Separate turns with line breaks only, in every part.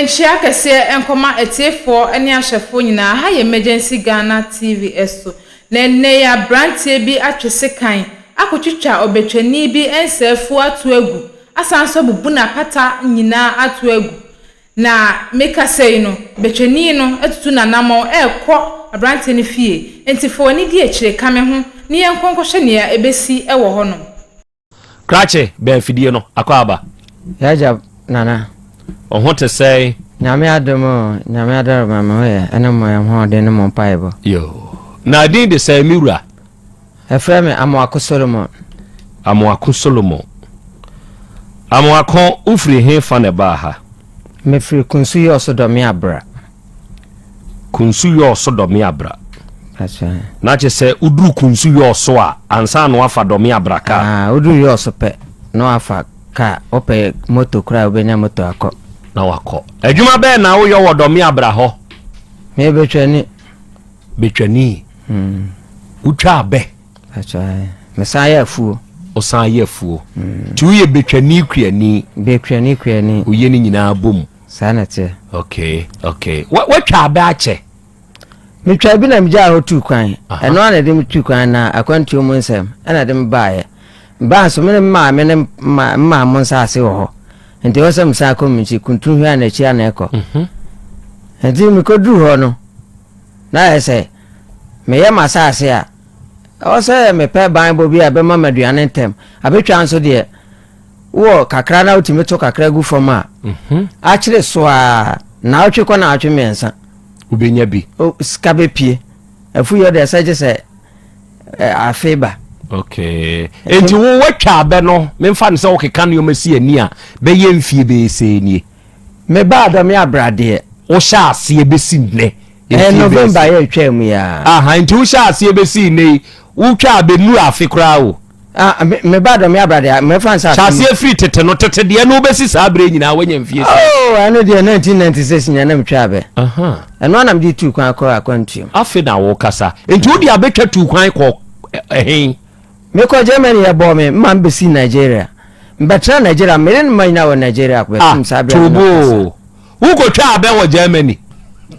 Nkyia kɛseɛ nkɔma atiefoɔ ne ahwɛfoɔ nyinaa, ha yɛ Emergency Ghana TV so, na ɛnnɛ yi abranteɛ bi atwe sekan akɔtwitwa ɔbɛtwani bi nsa afu ato agu, asan nso abubu n'apata nyinaa ato agu, na mekasa yi no, bɛtwani no atutu n'anamɔn ɛrekɔ abranteɛ no fie, nti fa w'ani di akyire ka me ho na yɛnkɔ nkɔhwɛ nea ɛbɛsi wɔ hɔnom. Krakye
bɛn fidie no akɔ aba. Yagya
nana. Wo ho te
sɛn. Nyame adom o
Nyame adaroma me ho yɛ ɛne mo ɛhoɔden ne mo mpaebɔ. Yoo. Na
din de sɛn me wura. Ɛfrɛ me
Amoako Solomon. Amoako Solomon. Amoako wofiri he fa na ɛbaa ha. Mefiri Kunsu Yɔɔso Dɔmea Bra. Kunsu yɔɔ so dɔme abra. Na kyɛ
sɛ woduru kunsu yɔɔ so a ansa na wafa dɔme abra kaa. Ah, woduru yɔɔ so pɛ
na wafa kaa. Wopɛ moto koraa wobɛnya moto akɔ. Na wakɔ.
Adwuma bɛɛ na woyɔ wɔ dɔme abra hɔ? Meyɛ betwani.
Betwani. Mm. Wotwa
abɛ? Atwa.
Mesan yɛ afuo. Wosan yɛ afuo.
Mm. Ti woyɛ betwani kuani. Betwani kuani.
Woyɛ ne nyinaa bom.
Saa na ɛteɛ.
Okay,
okay. Woatwa abɛ akyɛ? Metwaa
bi na megyaa hɔ tuu kwan. Ɛno ara na ɛde me tuu kwan na akwantuo mu nsɛm ɛna ɛde me baeɛ. Mebaa nso me ne me maame ne mmaa mo nsaase wɔ hɔ. Nti ɛwɔ sɛ mesan kɔ me nkyi kuntun hwɛ a na akyi a na ɛkɔ. Mhm. Nti mekɔduru hɔ no na ayɛ sɛ meyɛ m'asaase a ɛwɔ sɛ mepɛ banbɔ bi a ɛbɛma m'aduane ntɛm. Abɛtwa nso deɛ wɔ kakra na wotumi to kakra gu fam a mhm. akyere so a naawɔtwe kɔ naawɔtwe mmiɛnsa wobɛnya bi
sika bɛpie
afuyɛ deɛ sɛ gye sɛ afe ba
okay enti wo watwa abɛ no memfa no sɛ wokeka nneɔma si ani a bɛyɛ mfie bɛɛsɛ nie mebaa dɔme
abradeɛ wohyɛ aseɛ
bɛsi nnɛ ɛɛ november yɛ
twaa mu yɛa nti wohyɛ aseɛ
bɛsi nnɛ yi wotwa abɛnu afe koraa o Ah, me, me ba
dɔ me abrade a, me fa nsa. Hyase efiri tete no, tete
deɛ no wobɛsi saa abere nyinaa wanya mfie saa. Oh, ɛno deɛ
1996 nyɛ na metwa abɛ. Ɛno anam de tu kwan kɔ akwantuam. Afe na wokasa.
Nti wode abɛtwa tu kwan kɔ ɛhen?
Mekɔ Germany yɛ bɔɔ me, mma mbɛsi Nigeria. Mbɛtena Nigeria, mene ne mma nyinaa wɔ Nigeria, bɛsom saa abere a na mekasa.
Wokɔtwaa abɛ wɔ Germany?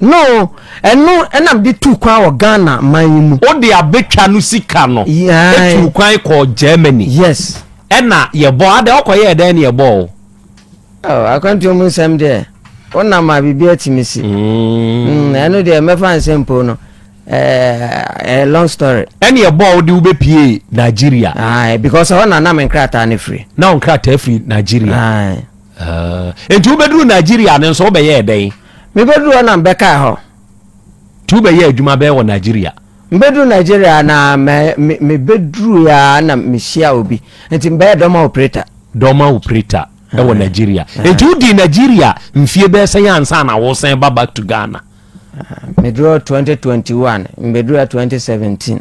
No,
ɛno na mede tuu kwan wɔ Ghana man yi mu. Wode abɛtwa no
sika no tuu kwan kɔɔ Germany? Yes. Ɛna
yɛbɔ
adɛ ɔkɔyɛɛ dɛn ne yɛbɔɔ wo? Oh,
akwantuo mu nsɛm deɛ wonam a biribi atumi si mm. Mm, ɛno deɛ mɛfa nsɛm mpo no eh, eh, long story ɛne ɛbɔɔ wode
wobɛpie nigeria ah, eh, because hɔ na na me
nkrataa no firi na wo nkrataa firi
nigeria Aah. Enti wobɛduruu Nigeria no nso wobɛyɛɛ dɛn? Mebɛduruu hɔ na
mebɛkaa hɔ. Nti
wobɛyɛɛ adwuma bɛn wɔ Nigeria? Mebɛduruu Nigeria
na mɛ me mebɛduruui ara na mehyiaa obi. Nti mebɛyɛɛ dɔma operator. Dɔma operator wɔ Aah. Nigeria. Nti Aah. wodii Nigeria mfie bɛyɛ sɛn ansa na woresan ba back to Ghana? Aah. Meduruu hɔ 2021, mebɛduruui ha 2017.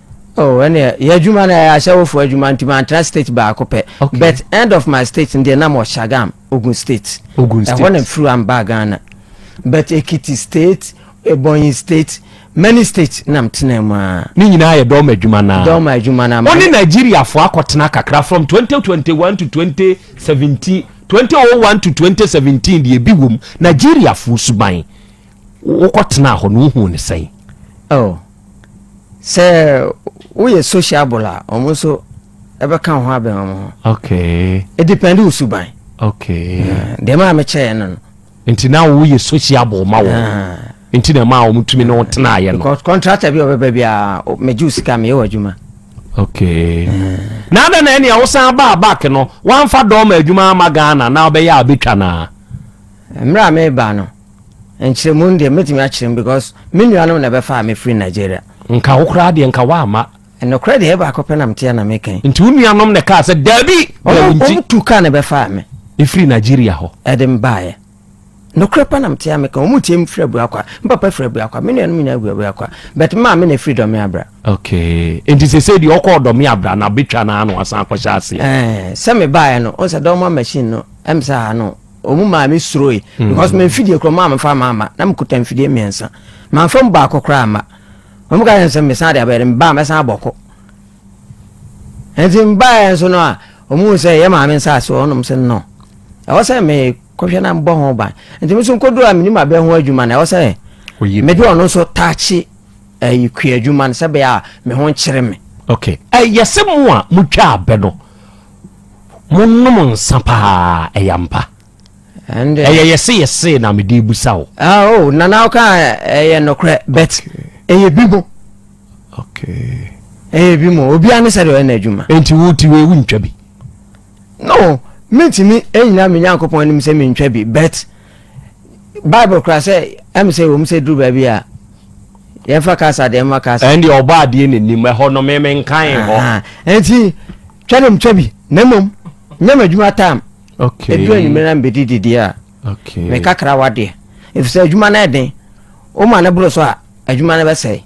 Oh ɛneɛ
yɛadwuma no ɛyɛ ahyɛwofoɔ adwuma nti mantena state baako pɛ okay. but end of my state ndeɛ na mɔ Shagam Ogun state Ogun state ɛhɔ na mfiri wa mbaa Ghana but Ekiti state Ebonyi state many state na mtena mu a ne nyinaa yɛ dɔma
adwuma no dɔma adwuma no ama ɔne Nigeriafoɔ akɔtena kakra from 2021 to 2017 2001 to 2017 deɛ bi wom Nigeriafoɔ suban wokɔtena hɔ no wohuu ne sɛn oh. sɛ
woyɛ sociable a wɔn nso ɛbɛka wo ho abɛn wɔn ho okay ɛdepɛnde wo suban
okay
deɛ maa mekyɛɛ no no
nti na woyɛ sociable ma wɔ nti na ɛmaa wɔn tumi ne wo tenaeɛ no because contractor bi a ɔbɛba
bi a megye wo sika meyɛ wɔ adwuma
okay na adɛ na ɛnea wosan baa back no woamfa dɔma adwuma ama ghana na wobɛyɛ a wobɛtwa no a mmerɛ a
meba no Nkyerɛmu no deɛ mɛtumi akyerɛ mu because me nuanom na ɛbɛfaa me firi Nigeria. Nka wo koraa deɛ
nka woamma. Nokorɛ deɛ ɛyɛ baako
pɛ na mete a na meka yi. Nti wo nuanom na ɛkaa
sɛ daabi na wo nti. Wɔn tu kaa
na ɛbɛfaa me. Ɛfiri Nigeria
hɔ. Ɛde me baeɛ.
Nokorɛ pa na mete a meka wɔn tie me firi Abuakwa. Me papa firi Abuakwa. Me nuanom nyinaa firi Abuakwa. But me maame na ɛfiri Dɔme Abra. Okay. Nti
sese deɛ ɔkɔɔ Dɔme Abra na abɛtwa no ano asan akɔhyɛ aseɛ. Ɛɛ sɛ me baeɛ
no ɔsɛ dɔma machine no ɛm sɛ ano. wɔn maa me suroe mm. because me mfidie korɔ maa mefa maa ma na mekuta mfidie mmiɛnsa mamfa mu baako koraa ma wɔn ka yɛn sɛ mesan de abɛyɛ de mbaa mɛsan abɔkɔ nti mbaa yɛn nso no a wɔn mu sɛ yɛ maame nsa ase wɔn nom sɛ no ɛwɔ sɛ me kɔhwɛ na mbɔ ho ban nti me nso nkodoro a me nim abɛn ho adwuma na ɛwɔ sɛ me de ɔno nso taakye ɛyi kua adwuma no sɛ bɛyɛ a me ho nkyerɛ me. okay ɛyɛ
sɛ mo a mo twa abɛ no. Monom nsa paa, ɛyɛ ampa. Ɛyɛ yɛse yɛse na mede busa wo. Ah, oh, nana woka
ɛyɛ nokorɛ but ɛyɛ bi mo.
Okay. Ɛyɛ bi
mo, obiara ne sɛ deɛ ɔyɛ n'adwuma. Nti wo ti wei wontwa
bi? No,
mentumi ɛnyina me Nyankopɔn anim sɛ mentwa bi but Bible kora sɛ ɛm sɛ wɔm sɛ duru baabi a yɛmfa kasa deɛ mma kasa. Ɛndeɛ ɔbɔ adeɛ n'anim
ɛhɔ no memenkan hɔ. Nti
twa ne mtwa bi na mmom nyɛ m'adwuma tam ɛduru anwummerɛ
na mbɛdi
dideɛ a me kakra
wadeɛ
ɛfiri sɛ adwuma no ɛden woma no boro so a adwuma no bɛsɛe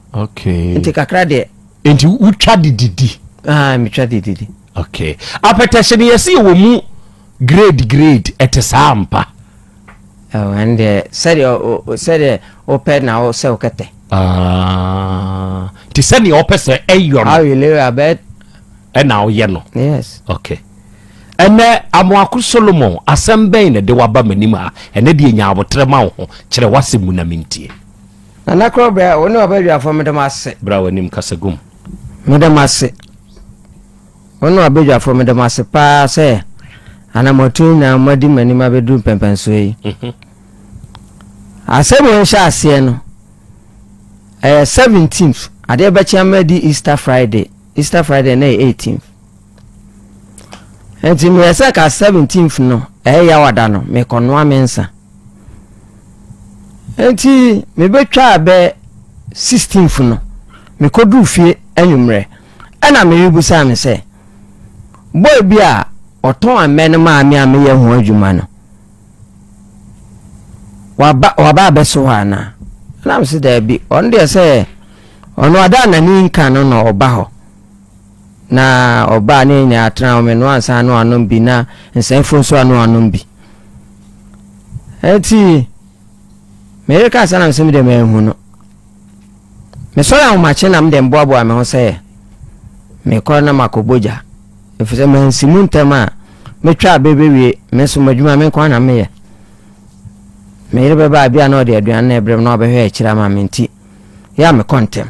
nti kakra
deɛ
nti wotwa
de didi ah, metwa de
didi okay
apɛtɛhye no yɛse yɛwɔ mu grade grade ɛte saa mpa Ɛwɔ
ɛn deɛ sɛdeɛ o sɛdeɛ o pɛ na o sɛ o kɛtɛ.
Ti sɛdeɛ o pɛ sɛ ɛ yɔ no. How you live a bɛ.
Ɛna o
yɛ no. Yes. Okay. Ɛnɛ Amoako Solomon asɛm bɛn na de waba m'anim ha ɛnɛ deɛ nya aboterɛ ma wo ho kyerɛ w'asɛm mu na mentie. Nana korɔ
brɛ wo ne wabadwafoɔ meda mo ase. Bra w'anim kasa gum.
Meda mo
ase. Ɔno abadwafoɔ meda mo ase paa sɛ ana moatu nyinaa moadi m'anim abɛduru mpɛmpɛnsoɔ yi. Asɛm wei hyɛ aseɛ no ɛyɛ 17th adeɛ bɛkye ama adi Easter Friday Easter Friday na ɛyɛ 18th nti meyɛ sɛ ka 17th no ɛyɛ yawada no mekɔnoa me nsa nti mebɛtwaa bɛ 16th no mekɔduru fie anwummerɛ Ɛna Mary bisaa me sɛ, Boy bi a ɔtɔn amɛ no maa me a meyɛ ho adwuma no, waba waba abɛso hɔ anaa? Ɛna me se, Daabi, ɔno deɛ sɛ ɔno ada n'ani nka no na ɔba hɔ. Na ɔbaa ne yɛn nyinaa tena hɔ, menoa nsa ano anom bi na nsɛmfo nso ano anom bi. Enti, meyere kaa sɛ na me se me deɛ manhu no. Mesɔre ahomakye na mede mboaboa me ho sɛ mekɔ na makɔ bɔ gya, efisɛ mansi mu ntɛm a metwa bere bewie me som adwuma me nko ara na meyɛ. Me yere bɛba a ebia na ɔde aduan na ɛbrɛ me na ɔbɛhwɛ akyiri ama me nti yɛ a mekɔ ntɛm.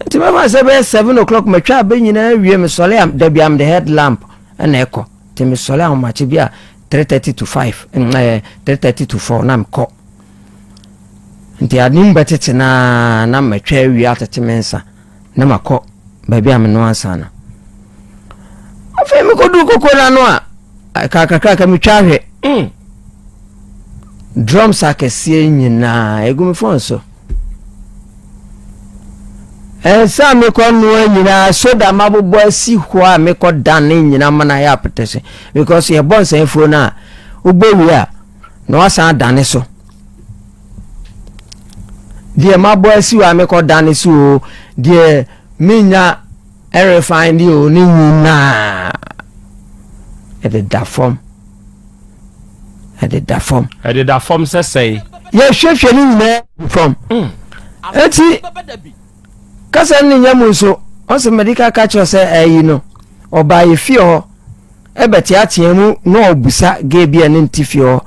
Nti mɛma sɛ bɛyɛ seven o'clock matwa abɛ nyinaa wie mesɔre a da bia mede head lamp na ɛkɔ nti mesɔre ahomakye bi a three thirty to five ɛɛ eh, three thirty to four na mekɔ. Enti ade mu bɛtete no ara na matwa awie atete me nsa na makɔ baabi a menoa nsa no. Afei mekɔduu koko no ano a kakrakraka metwa ahwɛ mm. drums akɛseɛ nyinaa ɛgu me fon so ɛsɛ a mekɔ noa nyinaa soda mabobɔ asi hɔ a mekɔ dan ne nyina mana yɛ apete se because yɛbɔ nsɛmfuo no a wobɛwie a na wasan adane so deɛ mabɔ asi hɔ a mekɔ dane so o deɛ menya ɛrefan deɛ o ne nyinaa ɛde da fam ɛde da fam ɛde da fam sɛ sɛe yɛhwɛhwɛ ne nyinaa fam ɛti mm. Kasa no ne nya mu nso, ɔse mede ka ka kyerɛ sɛ ayi no, ɔbaa yɛ fie hɔ, ɛbɛ teatea mu na ɔbusa gay bi a ne nti fie hɔ.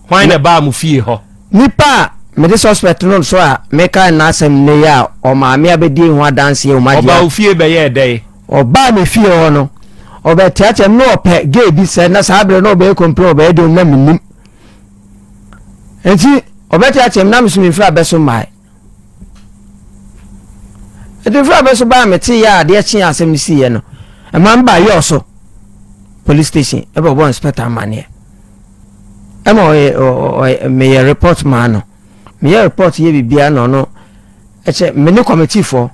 Hwan na
ɛbaa mo fie hɔ? Nipa a
mede suspect no so a meka no n'asɛm nnɛ yi a ɔmaa me abɛdie ho adanseɛ wɔ m'adeɛ.
Ɔbaa
wo fie bɛyɛɛ
dɛn?
Ɔbaa me fie hɔ no, ɔbɛ teatea mu na ɔpɛ gay bi sɛ na saa berɛ na ɔbɛyɛ complain ɔbɛyɛ dɛn na mennim. Nti ɔbɛ teatea mu na meso memfiri abɛ so mmae. Adwemfraba so baa me tee a adeɛ kye a asɛm no siiɛ no, ɛma me baa yɔɔ so police station ɛbɛ ɔbɔ inspector amaneɛ ɛma ɔyɛ meyɛ report maa no meyɛ report yɛ biribiara na ɔno ɛkyɛ me ne committee fɔ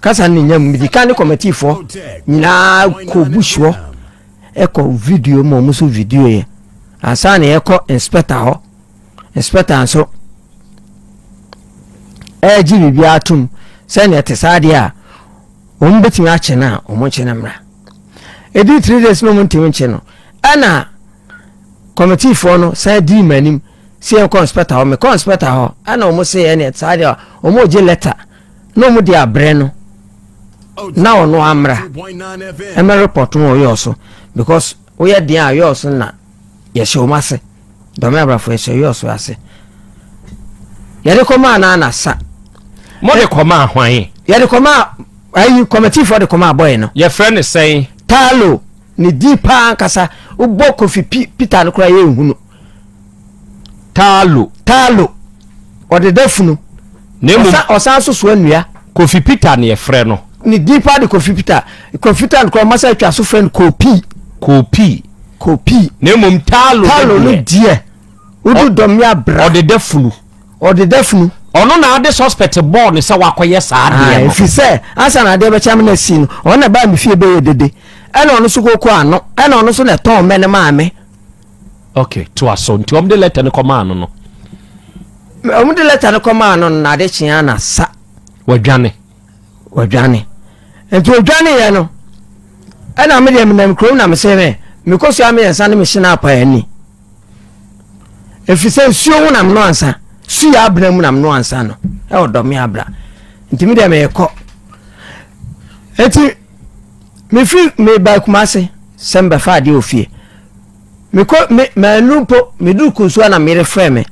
kasa ne nya mu medi ka ne committee fɔ nyinaa kɔ busuɔ ɛkɔ video ma ɔmo so video yɛ ansa na yɛkɔ inspector hɔ Sparta nso ɛregye biribiara tom sɛ nea ɛte saa deɛ a wɔn bɛtumi akye no a wɔn nkye no mmra ɛdii three days no wɔn ntumi nkye no ɛna kɔmitiifoɔ no san dii mu anim sɛ yɛn kɔnspɛta hɔ me kɔnspɛta hɔ ɛna wɔn sɛ yɛn nea ɛte saa deɛ a wɔn regye lɛta na wɔn de abrɛ no na ɔno amra ɛmɛ report no wɔyɛ ɔso because woyɛ deɛ a yɛ ɔso na Yɛhyɛ wɔn ase. Dɔme abrafo yɛhyɛ yɛ ɔso ase. Yɛde kɔmaa na na sa. Mo de
kɔmaa hwan? Yɛde kɔmaa
ayi kɔmɛtifoɔ de kɔmaa bɔyɛ no. Yɛfrɛ ne sɛn?
Taalo.
Ne din paa ankasa wobɔ Kofi Peter no koraa yɛ nhunu. Taalo. Taalo. Ɔdeda funu. na mmom. Ɔsa
ɔsan nso soa
nnua. Kofi Peter na
yɛfrɛ no. Ne din paa de Kofi
Peter. Kofi Tan koraa wɔasan atwa so frɛ no Kopi. Kopi. Kopi.
Na mmom Taalo. Taalo no deɛ,
wodu Dɔmmea bra. Ɔdeda funu.
Ɔdeda funu. Ɔno na ade suspect bɔɔ no sɛ wakɔyɛ saa adeɛ no. Ae, ɛfiri sɛ ansa
na adeɛ bɛkyɛ me na asi no, ɔno na ɛbaa me fie bɛyɛɛ dede. Ɛna ɔno nso kokoo ano. Ɛna ɔno nso na ɛtɔn mmɛ no maa me. Ok,
toa so. Nti wɔde lɛta no kɔmaa no no.
Wɔde lɛta no kɔmaa no no na ade kyee a na sa. Wadwane.
Wadwane.
Nti odwane yɛ no. Ɛna me deɛ menam kurom na mesɛ me mekɔsua mmiɛnsa ne mehyena apa ani. Ɛfiri sɛ nsuo ho nam no ansa. Su yɛ abena mu nam no ansa no. Ɛwɔ dɔme abra. Nti me deɛ mekɔ. Nti mefiri meba Kumase sɛ mbɛfa adeɛ ofie. mekɔ me maanu mpo meduru kunsuwa na merefrɛ me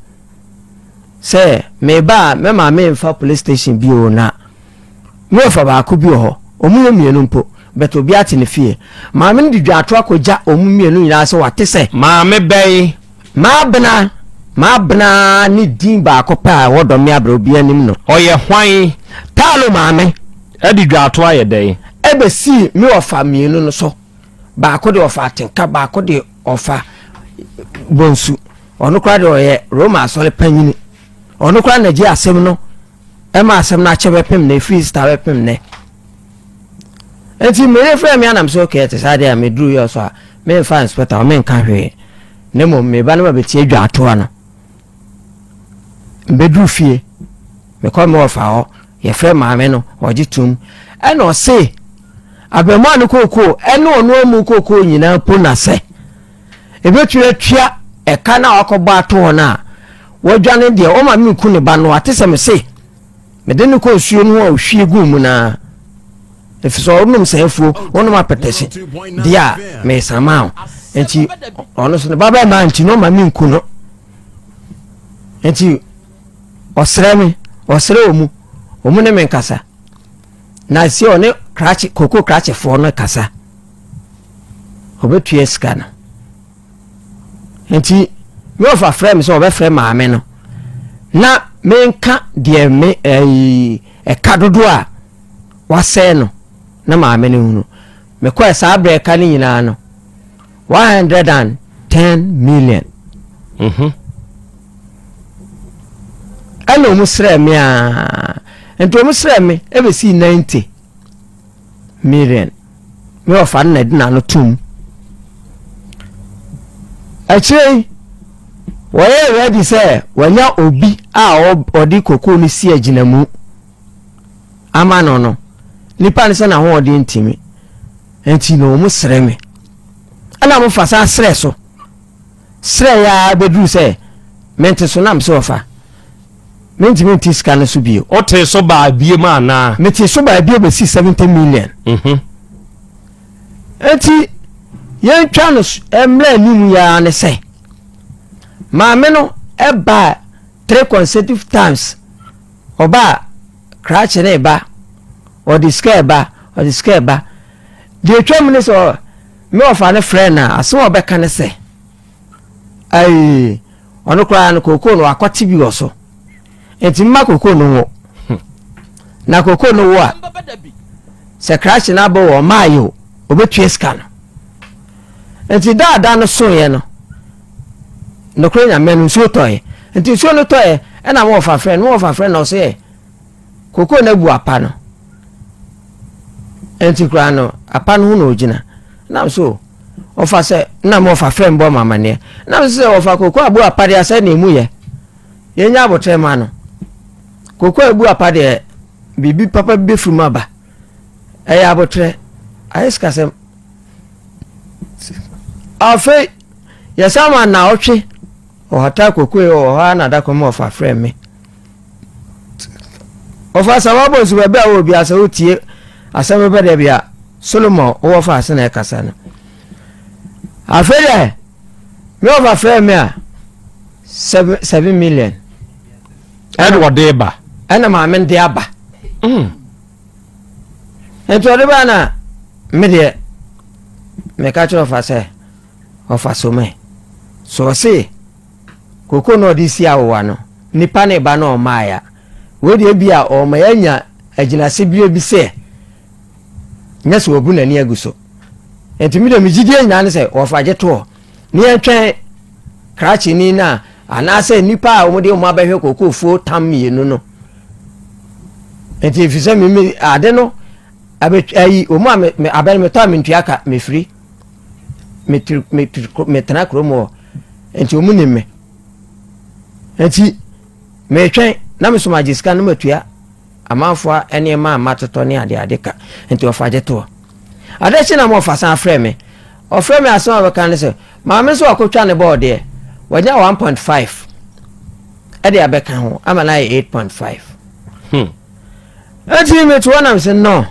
sɛ meba a me maame mfa police station bi o na me wɔfa baako bi wɔ hɔ ɔmo yɛ mmienu mpo bɛtɛ obi ate ne fie maame no de dwaato akɔgya ɔmo mmienu nyinaa sɛ wate sɛ maame bɛyi
maabena maabena ne din baako pɛ a ɛwɔ dɔme abrɛ obi anim no ɔyɛ hwan taalo maame
ɛde dwaato
ayɛ dɛn ɛbɛsii
me wɔfa mmienu no so. Baako deɛ ɔfa atenka, baako deɛ ɔfa bonsu. Ɔno koraa deɛ ɔyɛ Roma asɔre panyini. Ɔno koraa na gye asɛm no ɛma asɛm no akyɛ bɛpem na ɛfiri star bɛpem nɛ. Nti mmere frɛ me anam sɛ okay ɛte saa deɛ a meduru yɛ so a memfa inspector hɔ menka hwee. Ne mmom meba no ma bɛtie dwaatoa no. Mbɛduru fie mekɔ me wɔfa hɔ Yɛfrɛɛ maame no, ɔgye toom. Ɛna ɔse, abarimaa no kookoo ne ɔno amu kookoo nyinaa mpo na sɛ ɛbɛtumi atua ɛka no a wakɔbɔ ato hɔ no a, wadwane deɛ, ɔma menku ne ba no a, te sɛ mese mede no kɔ nsuo no ho a ɔhwie guu mu no ara. Ɛfiri sɛ ɔnom saa afuo, ɔnom apɛtɛhye deɛ a mesan maa wo. Nti ɔno so ne ba bɛmaa nti na ɔma menku no. Nti Ɔsrɛ me, ɔsrɛ wɔn mu, wɔn ne me nkasa. Na si ɔne krakye, koko krakyefoɔ no kasa. Ɔbɛtua sika no. Nti, me ɔfa frɛ me sɛ ɔbɛfrɛ maame no. Na menka deɛ me ɛyi ɛka dodoɔ a wasɛe no na maame no hunu. Mekɔɛ saa berɛka no nyinaa no, one hundred and ten million Mhm. ɛna ɔmo srɛɛ me aa, nti ɔmo srɛɛ me ɛbɛsii ninety million, me wɔfa no na ɛde n'ano tom. Akyire yi, wɔyɛɛ ready sɛ wɔanya obi a ɔ- ɔde kokoo no si agyinamu. ama no no nipa no sɛ n'ahoɔden ntumi nti no wɔn srɛ me ɛna wɔn fa saa srɛ so srɛ yɛ a bɛduru sɛ mente so nam sɛ ɔfa mentumi nti sika no so bio ɔte so baa
bie mu anaa mete so baa bie bɛsi
70 million mhm. nti yɛntwa no mmerɛ anim yɛa ne sɛ maame no ɛbaa three consecutive times ɔbaa krakye reba, ɔde sika reba, ɔde sika reba. Deɛ ɛtwa mu ne sɛ me wɔfa no frɛ no a, asɛm a ɔbɛka ne sɛ, ai, ɔno koraa no kookoo no wakɔte bi wɔ so. Nti mma kookoo no wo. Na kookoo no wo a, sɛ krakye no abɔ wɔ ɔmaa yɛ o, ɔbɛtua sika no. Nti daadaa no soeɛ no, Nokorɛ Nyame no nsuo tɔɛ Nti nsuo no tɔɛ ɛna mo wɔfa frɛ no mo wɔfa frɛ no ɔsɛ yɛ Kokoo no abu apa no Nti koraa no apa no ho na ɔgyina Nam so wɔfa sɛ na mo wɔfa frɛ no bɔ mo amaneɛ Nam so sɛ wɔfa kokoo abu apa deɛ asɛ na emu yɛ Yɛnya abotrɛ ma no Kokoo abu apa deɛ biribi papa bi bɛfiri mu aba Ɛyɛ abotrɛ Ayɛ sikasɛm Afei Yɛsan ma naawɔtwe ɔhata kokoe wɔ hɔ ara na da kɔm ɔfa frɛ me. Ɔfa sɛ wabɔ nsu baabi a wɔ bia sɛ wotie asɛm bɛbɛ dɛ bia Solomon wɔ fa ase na ɛkasa no. Afei dɛ me ɔfa frɛ me a seven seven million.
Ɛna ɔde ba. Ɛna maame nde
aba. Mm. Nti ɔde ba na me deɛ meka kyerɛ ɔfa sɛ. ɔfa so mɛ. Sɛ ɔse koko na ɔde si awowa no, nipa ne ba na ɔmaeɛ a, wei deɛ bi a ɔma yɛanya agyinaseberɛ bi sɛ nyɛ sɛ ɔbu n'ani agu so. Nti me deɛ me gyidie nyinaa ne sɛ ɔfa gye toɔ ne yɛntwɛn krakyeni no a anaasɛ nnipa a wɔde wɔn abɛhwɛ kokofuo tam mmienu no. Nti ɛfiri sɛ meme ade no ayi wɔn a abɛn metɔ a mentua ka mefiri metiri metiri metena kurom hɔ nti wɔn nim me nti metwɛn na me soma agye sika no matua amanfoɔ nneɛma a matotɔ ne adeade ka nti wɔfa gye toɔ adakyi na wɔfa san afrɛ me ɔfrɛ me asɛm a wɔbɛka ne sɛ maame nso wakɔtwa ne bɔɔdeɛ wɔnya 1.5 ɛde abɛka ho ama no ayɛ 8.5 hmm. Eti me to hɔ nam sɛ no.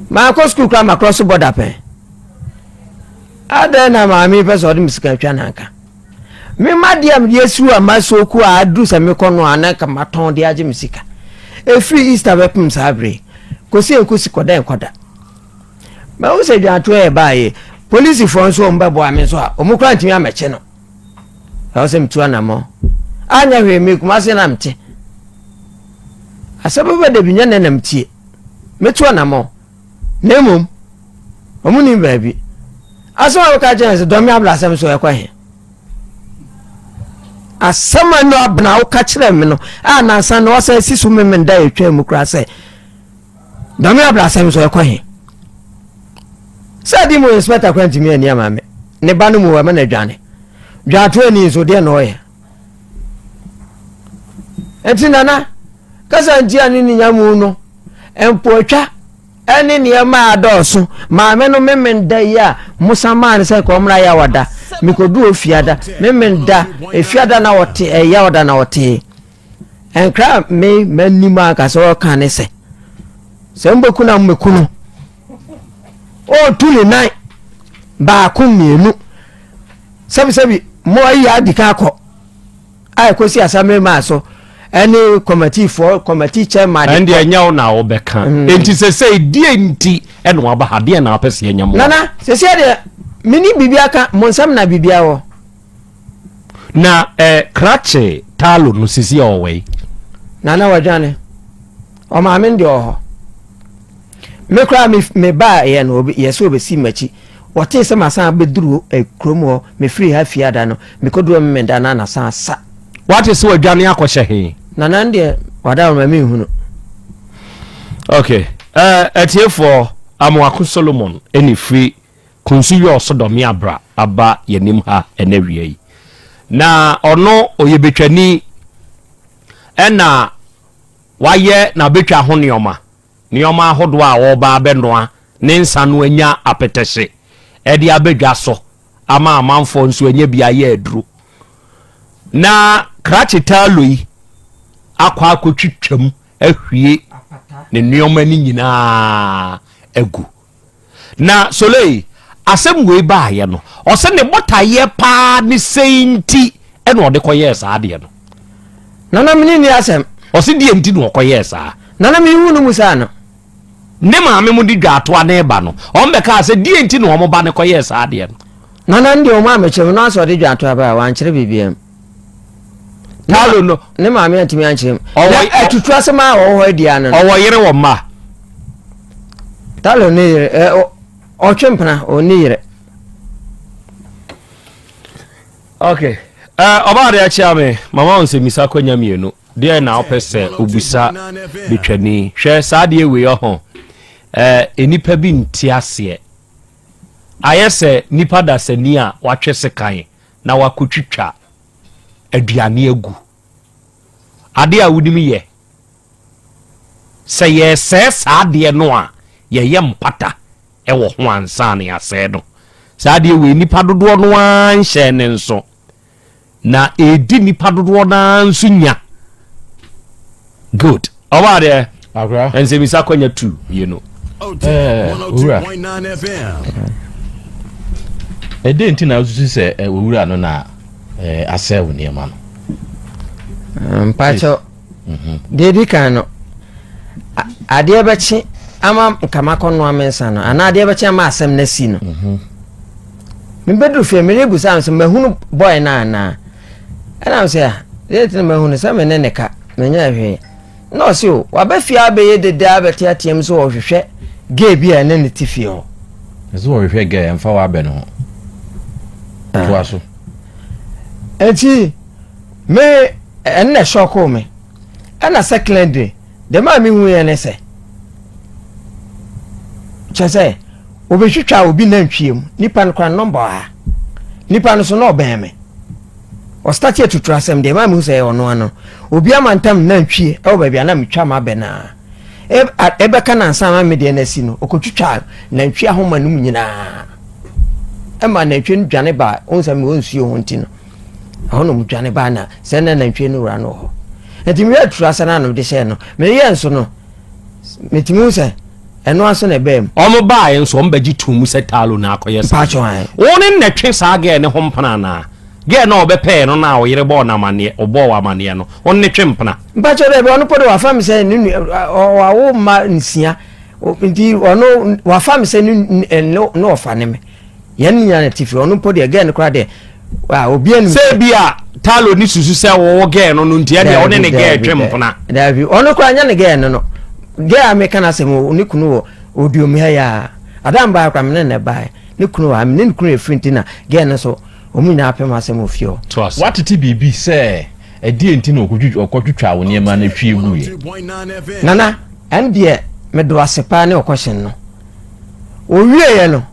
Maakɔ sukuu koraa makorɔ so bɔda pɛn. Adɛn na maame pɛ sɛ ɔde me sika twa nanka. Me ma deɛ a mede asiw a maso ku a aduru sɛ mekɔ no a na nka matɔn de agye me sika. Ɛfiri Easter bɛpem saa bere kɔsi nkosi kɔda nkɔda. Mahu sɛ dwantoɔ yɛ baayɛ. Polisifoɔ nso wɔn bɛboa me nso a wɔn koraa ntumi amɛkye no. Ɛwɔ sɛ metu anamɔ. Anyɛ hwee me Kumasi na mete. Asɛm bɛba da bi nyɛ nɛ na metie. Mɛtu anamɔ. Na mmom, wɔn nim baabi. Asɛm a wɔka kyerɛ sɛ dɔm me abla asɛm so ɛkɔ he? Asɛm a no abena woka kyerɛ me no a nansa na wɔsan si so memenda ɛtwa mu koraa sɛ Dɔme abrasɛm nso ɛkɔ he? Sɛ adi mu inspector kora ntumi ani ama me ne ba no mu ɛma no adwane. Dwaatoa ni nso deɛ na ɔyɛ. Nti nana kasa nti a ne ninya mu no mpoatwa ɛne nneɛma a dɔɔso maame no memen da yi a mosa maa no sɛ kɔmmra yɛ awada mekɔdu ofiada memen da efiada na wɔte ɛyɛ awada na wɔtee Nkra a me m'anim ankasa ɔka ne sɛ, sɛ mobɛku no a mobɛku no. Ɔretu ne nan baako mmienu. Sɛbisɛbi mo ayi adi kan akɔ a ɛkɔsi asamere maa so ɛne kɔmatifoɔ kɔmati chairman. ɛn deɛ ɛnyɛ wo na
wobɛka mm. enti sɛ sɛ deɛ nti ɛna waba ha deɛ na wapɛ sɛ ɛnyɛ mo nana sɛ sɛ deɛ
mene biribia ka mo nsɛm na biribia wɔ
Na eh, krakye Talo no sisi a ɔwɔ yi. Nana
wadwane. Ɔmaame no deɛ ɔwɔ hɔ. Me koraa me me ba yɛ no yɛ sɛ ɔbɛsi m'akyi. Wɔtee sɛ masan bɛduru eh, kurom hɔ mefiri ha fie ada no mekɔduru me meda no anasan sa. Wate sɛ wadwane
akɔhyɛ he? Nana no deɛ
wada ɔma menhunu.
Okay. Uh, atiefoɔ Amoako Solomon ɛne firi Kunsu yɛ ɔsodɔme a bra aba yɛanim ha ɛnɛ awia yi. Na ɔno ɔyɛ betwani ɛna wayɛ na betwa ho nneɛma nneɛma ahodoɔ a ɔreba abɛnoa ne nsa no anya apetɛhye ɛde abɛdwa so ama amanfoɔ nso anya bi ayɛ aduro. Na krakye taalo yi akɔ akɔtwitwam ahwie ne nneɛma no nyinaa agu. Na Soleil asɛm wei baayɛ no, ɔsɛ ne botaeɛ paa ne sei nti ɛna ɔde kɔyɛɛ saa adeɛ no. Nana mene
ni asɛm. Ɔsɛ deɛ
nti
na ɔkɔyɛɛ
saa.
Nana
mehu
no mu
saa no. Ne maame mo de dwaatoa ne ba no, wɔn bɛkaa sɛ deɛ nti na wɔn ba no kɔyɛɛ saa adeɛ no. Nana ndeɛ wɔn amekyerɛ mu,
na ɔsɛ ɔde dwaatoa ba a, wankyerɛ biribiara mu.
paulo no ne maame antumi ankyerɛ
mu atutu asɛm a wɔwɔ hɔ adi ano ɔwɔ yere wɔ mma
talo
ne yere ɔtwe mpena ɔne yere
ok ɔbaa de akyea me mama wo nsɛmmisa kwanya mmienu deɛ na wopɛ sɛ obusa betwani hwɛ saa deɛ wei ɔho nnipa bi nte aseɛ ayɛ sɛ nipa dasani a watwe sekan na wakɔtwitwa aduane agu. Adeɛ a wonim yɛ, sɛ yɛresɛe saa adeɛ no a, yɛyɛ mpata wɔ ho ansa na yɛasɛe no. Saa adeɛ wei nnipa dodoɔ no ara nhyɛɛ ne nso, na ɛredi nnipa dodoɔ no ara nso nya. good ɔwɔ adeɛ nsɛmisa
akɔnya tu
mmienu
owura ɛdɛn nti na wosusu sɛ owura no na asɛe wo nneɛma no mpakyɛw mhm.
deɛ di kan no adeɛ bɛkye ama nkama kɔnoa me nsa no anaa adeɛ bɛkye ama asɛm no asi no mhm. mebɛduru fie merebusa no sɛ mahunu bɔe no anaa Ɛnam sɛ a, deɛ nti na mahu no sɛ me ne ne ka, menyɛɛ hwee. Na ɔse o, waba fie ara bɛyɛ dede ara bɛteateam sɛ ɔrehwehwɛ gɛɛ bi a ɛne no te fie hɔ. Ɛsɛ sɛ ɔhwehwɛ
gɛɛ, ɛmfa w'abɛ no ho. Ah. Toa so.
Nti, me, ɛno na ɛhyɔkoo me. Ɛna secondary, Dɛm a mihuiɛ ne sɛ, kyerɛ sɛ, wɔbɛtwitwaa obi nantwie mu, nipa no koraa nɔmba ɔha. Nipa no so na ɔbɛn me. Ɔstate atuturu asɛm deɛ, ɛma mehu sɛ ɛyɛ ɔno ano no. Obi amantam nantwie ɛwɔ baabi a na metwa mabɛ no a, ɛbɛka no ansa ama me deɛ no asi no, ɔkɔtwitwaa nantwie ahoma no mu nyinaa. Ɛma nantwie no dwane baa, wohu sɛ mewɔ nsuo ho nti no. ɛhɔ na wɔdwane baa na sɛ na nantwie no wura no wɔ hɔ nti meyɛ aturu asa no a na mede hyɛɛ no meyɛ nso no metumi hu sɛ ɛno aso na ɛbaa mu. wɔn baaeɛ nso wɔn
bɛgye tum mu sɛ taalo na akɔyɛ saa wɔn ne na
ɛtwe saa
gɛɛ ne ho mpena anaa gɛɛ na ɔbɛpɛɛ no na ɔyere bɔɔ no amaneɛ ɔbɔɔ wɔ amaneɛ no wɔn ne twe mpena. mpakyɛ dɛ bi ɔno pɔ de
wafa mi sɛ ne nu ɔwawo mma nsia nti ɔno wafa mi sɛ ne ne ɔfa ne mi. Yɛn nyinaa na tifi ɔno mpo deɛ gɛɛ no koraa deɛ ah, obiara nim. Sɛ bi a Talo
ni susu sɛ wɔwɔ gɛɛ no no ntia deɛ ɔne ne gɛɛ twem mpona. Daabi ɔno koraa nyɛ
ne gɛɛ no no gɛɛ a meka no asɛm ne kunu wɔ oduom ha yɛ adam baa koraa mene ne baa ne kunu wɔ ha mene ne kunu ɛfiri nti na gɛɛ no so wɔn nyinaa apem asɛm wɔ fie hɔ. Watete biribi
sɛ ɛdeɛ nti na ɔkɔtwitwa wo nneɛma no twie guiɛ. Nana
ɛndeɛ medo ase paa ne ɔkɔhyɛn no. Ɔwieeɛ no,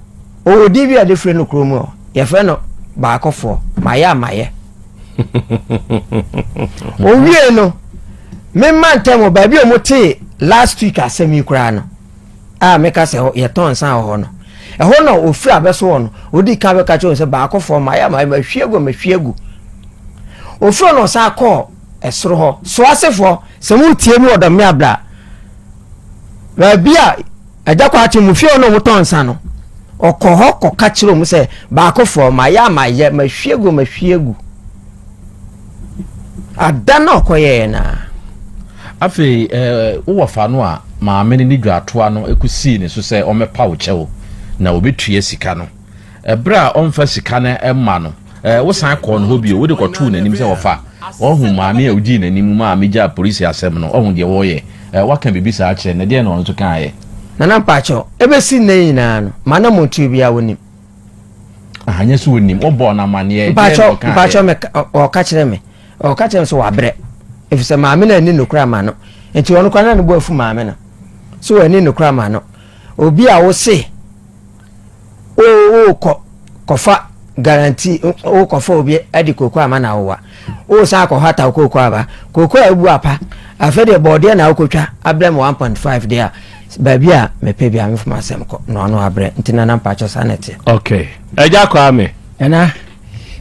ɔwɔ din bi a de frɛ no kuro mu hɔ, yɛfrɛ no Baakofoɔ, mayɛ a mayɛ. Ɔwie no, memma ntɛm wɔ baabi a wɔtee last week asɛm yi koraa no a meka sɛ yɛtɔn nsa wɔ hɔ no ɛhɔ na ɔfiri abɛso hɔ no ɔdi ka bɛka kyerɛ sɛ baakofoɔ mayɛ a mayɛ mahwie gu mahwie gu ɔfiri no ɔsan kɔɔ ɛsoro hɔ so asefoɔ sɛ motie mu ɔdɔm ne abra baabi a agya kɔ akye mu fie hɔ na wɔn tɔn nsa no ɔkɔ hɔ kɔka kyerɛ wɔn sɛ baakofoɔ mayɛ a mayɛ mahwie gu mahwie gu ada na ɔkɔyɛɛ no a afei
eh, wowɔ fa no a maame no ne dwaatoa no kɔsii ne so sɛ ɔmɛpa wo kyɛw na ɔbɛtua sika no Ɛberɛ a ɔmfa sika no mma no, ɛɛ, wosan kɔɔ ne hɔ bio, wode kɔtoo n'anim sɛ ɔfa. Wahu maame a ɔdii n'anim maa megyaa polisi asɛm no, wahu deɛ wɔreyɛ. Ɛɛ, waka biribi saa akyerɛ no, na deɛn na ɔno nso kaeɛ? Nana mpakyɛw,
ɛbɛsi nnɛ yi nyinaa no, m'anammɔntuo biara ɔnim. Ah,
ɛnyɛ sɛ ɔnim, wobɔɔ no amanneɛ, deɛn na ɔkaeɛ? Mpakyɛw,
mpakyɛw, me, ɔka kyerɛ me, ɔka kyerɛ me sɛ wabrɛ, efisɛ maame no anni nokorɛ ama no, nti ɔno koraa na ne bo afu maame no, sɛ wanni nokorɛ ama no, obi a wose, wokɔ kɔfa guarantee wokɔfa obi de kooko ama na awowa wosan akɔhɔ ataw kooko aba kooko a ebu apa afei deɛ bɔɔdeɛ na wokɔtwa abrɛ me 1.5 deɛ a baabi a mepɛ bi a mefom asɛm kɔ na ɔno abrɛ nti na na mpakyɛ saa na ɛteɛ okay agya
kwaa me ɛna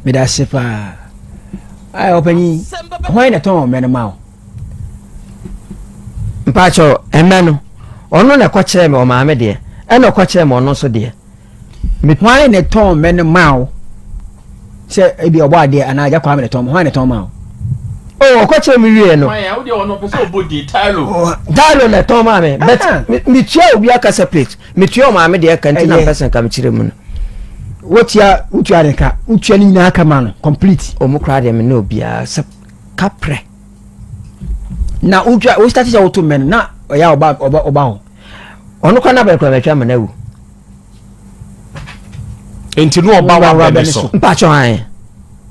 meda se paa ayɛ ɔpanyin hwan na tɔn ɔmɛ no ma wo
mpakyɛw ɛmɛ no ɔno na ɛkɔ kyerɛ me ɔmaame deɛ ɛna ɔkɔ kyerɛ me ɔno nso deɛ. hwan
na ɛtɔn mɛ no maa wo sɛ ebi ɔbɔ adeɛ anaa agya kwame na ɛtɔn mɛ hwan na ɛtɔn maa wo. o oh,
ɔkɔ kyerɛ me wie no.
taalo na ɛtɔn maa
me but ah. metua obi akasa plate metua ɔmaame deɛ ɛka nti na mpɛ sɛ nka mekyerɛ mu no wotua
wotua de ka wotua ne nyinaa ka ma no complete ɔmo koraa deɛ me ne
obiara sɛ kaprɛ
na wotwa wo start sɛ woto mmɛ no na ɔyɛ ɔba ɔba ɔba hɔ ɔno kora
n'abɛn kora bɛtwa ama n'awu.
nti no ɔba w'abɛn ne so mpatsɔ an.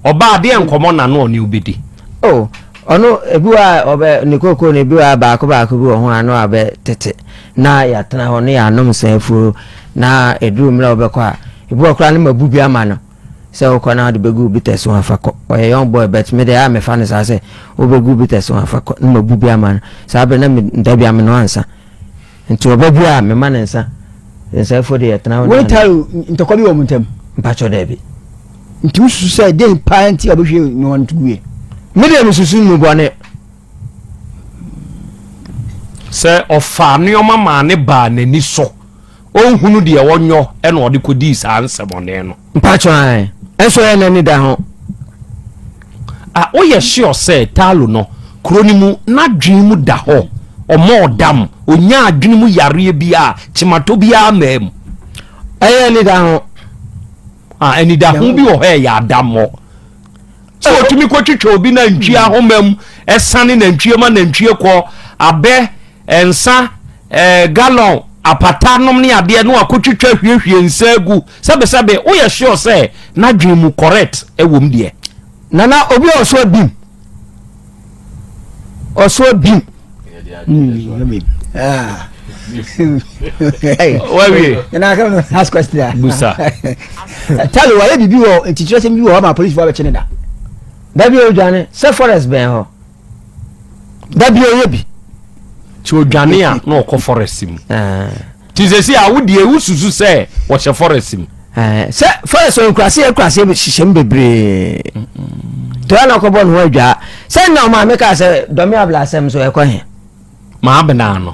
ɔba adeɛ
nkɔmɔ na no ɔne obedi. o oh,
ɔno ebi wa ɔbɛ ne koko na ebi wa baako baako bi wɔ ho ano abɛ tete na yɛatena hɔ ne yɛanom nsɛn afuo na eduru mmerɛ ɔbɛkɔ a ebi wɔ koraa ne ma bu bi ama no. sɛ wokɔ na wode bɛgu bita so afa kɔ ɔyɛ young boy but me de a mefa no saa sɛ wobɛgu bita so afa kɔ na mabu bi ama no saa berɛ na meda bi ameno ansa nti ɔba bi a mema no nsa nsɛfoɔ de yɛtena wo ne taro ntɔkwa bi
wɔ mo ntam mpakyɛ daabi
nti wosusu
sɛ den paa nti a wobɛhwie nnowa no to guiɛ me deɛ mesusu
mu bɔne
sɛ ɔfaa nneɛma maa ne baa n'ani so ɔnhunu deɛ ɔnyɔ ɛna ɔde kɔdii saa nsɛmɔne no. Mpakyɛ ae
ɛnso ɛyɛ nani da ho.
A woyɛ sure sɛ Talo no kuro no mu nadwene mu da hɔ ɔmɔ ɔdam ɔnya adwene mu yareɛ biaa kyematɔ biaa maa mu. Ɛyɛ ani
da ho. Ah ani
da ho bi wɔ hɔ ɛyɛ adamɔ. Sɛ otumi kɔ twitwa obi na ntwie ahoma mu ɛsane na ntwie ma na ntwie kɔ abɛ ɛnsa Eh, gallon, apata nom ne adeɛ no akɔtwitwa hwiehwie nsa agu. Sɛbesɛbe, woyɛ sure sɛ n'adwene mu correct wom deɛ. Nana, obi
a ɔso abim. Ɔso abim. Ah.
wawie na ka no
ask
question a busa talo wayɛ biribi wɔ ntikyerɛsɛm bi wɔ hɔ ma policefoɔ bɛkye ne da da bi
ɔdwane sɛ forest bɛn hɔ da bi ɔyɛ bi nti
odwane a na ɔkɔ forest mu nti sɛ si a wodeɛ wosusu sɛ wɔhyɛ forest mu sɛ forest
nkuraseɛ nkuraseɛ hyehyɛ mu bebree tɔa na ɔkɔbɔ ne ho adwaa sɛ na ɔma me kaa sɛ dɔme abla asɛm so ɛkɔ he maa benaa
no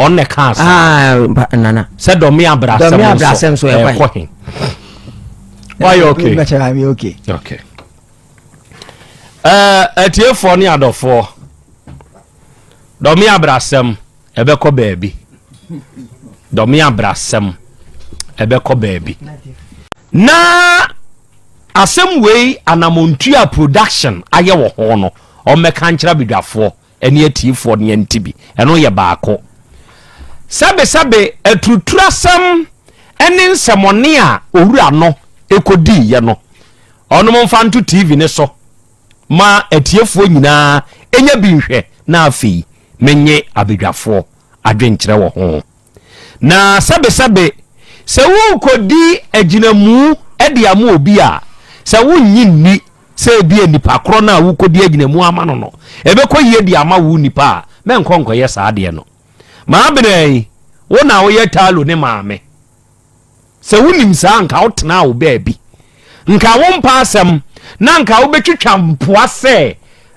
ɔnnɛ kaa sɛ nana
sɛ dɔme abra
asɛm so ɛkɔ
he
wayɛ okay okay okay Ɛɛ atiefoɔ ne adɔfoɔ, dɔme abrasɛm ɛbɛkɔ baabi. Dɔme abrasɛm ɛbɛkɔ baabi. Na asɛm wei Anamontua production ayɛ wɔ ho no, ɔmmɛka nkyerɛ abadwafoɔ. ɛne atiyifoɔ no yɛn nti bi. Ɛno yɛ baako. Sɛbesɛbe aturuturasɛm ɛne nsɛmɔne a owura no ɛkɔdii yɛ no, ɔnom mfa nto TV no so ma atiefoɔ nyinaa ɛnya bi nhwɛ na afei menye abadwafoɔ adwenkyerɛ wɔ ho. Na sɛbesɛbe, sɛ worekodi agyinamu de ama obi a, sɛ wunnye nni sɛ ebia nipa korɔ no a worekodi agyinamu ama no no, ɛbɛkɔ yie de ama wo nipa a, mɛnkɔ nkɔyɛ saa adeɛ no. Maabena yi, wo na woyɛ Talo ne maame. Sɛ wonim saa nka wotenaa wo baabi. Nka wompɛ asɛm na nka wobɛtwitwa mpoa sɛ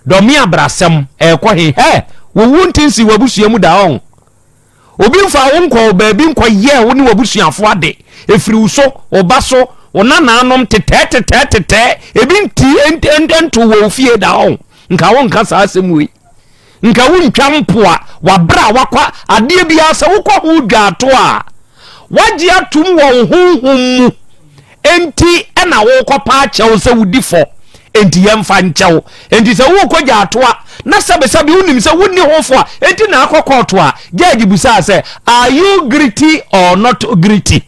dɔme abrasɛm ɛrekɔ he. Hɛ! Wowu nte nsi w'abusua mu da ɔn. Obi mfaa wo nkɔɔ baabi nkɔyɛɛ wo ne w'abusuafo ade. Efiri wo so, wo ba so, wo nanaanom, tetɛɛ tetɛɛ tetɛɛ, ebi ntii ent ent entoo wɔ wo fie da ɔn. Nka wonka saa asɛm wei. Nka wontwa mpoa, w'abrɛ a wakɔ, adeɛ biara sɛ wokɔ ho dwaato a, wagye atom wɔ wo honhom mu. Enti na worekɔpa akyɛ wo sɛ wodi fɔ, enti yɛmfa nkyɛ wo. Enti sɛ worekɔ gyato a, na sɛbesɛbe wonim sɛ wonni ho fɔ a enti na akɔ kɔɔto a, gyɛɛgye bisaa sɛ, Are you gritty or not gritty?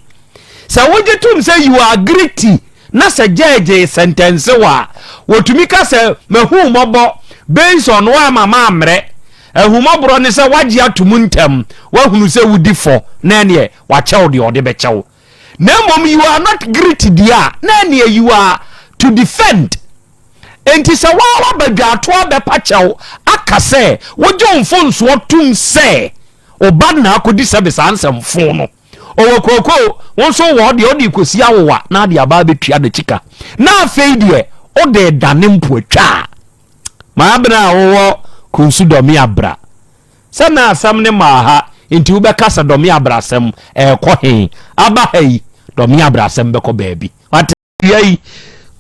Sɛ wogye tom sɛ you are gritty na sɛ gyɛɛgye resɛntɛnse wo a, wotumi ka sɛ, Mahu wo mmɔbɔ based on woamma mammrɛ. Ahummɔborɔ ne sɛ woagye atom ntɛm, woahunu sɛ wodi fɔ na ɛneɛ wɔakyɛ wo deɛ wɔde bɛkyɛ wo. na mmom you are not greet deɛ a na ɛneɛ you are to defend enti sɛ waa waba dwaatoɔ abɛpa kyɛw aka sɛ wogye wo mfonsoɔ tom sɛ ɔba na akɔdi service ansɛmfo no ɔwɔ kooko wo nso wɔ deɛ ɔde kɔsi awowa na ade aba abɛtua no kyika na afei deɛ ɔde dane mpo atwa a maabena a wɔwɔ konsu dɔme abra sɛ na asɛm no mmaa ha nti wobɛka sɛ dɔme abrasɛm ɛrekɔ he? Aba ha yi, dɔme abrasɛm bɛkɔ baabi. Wate? Wia yi,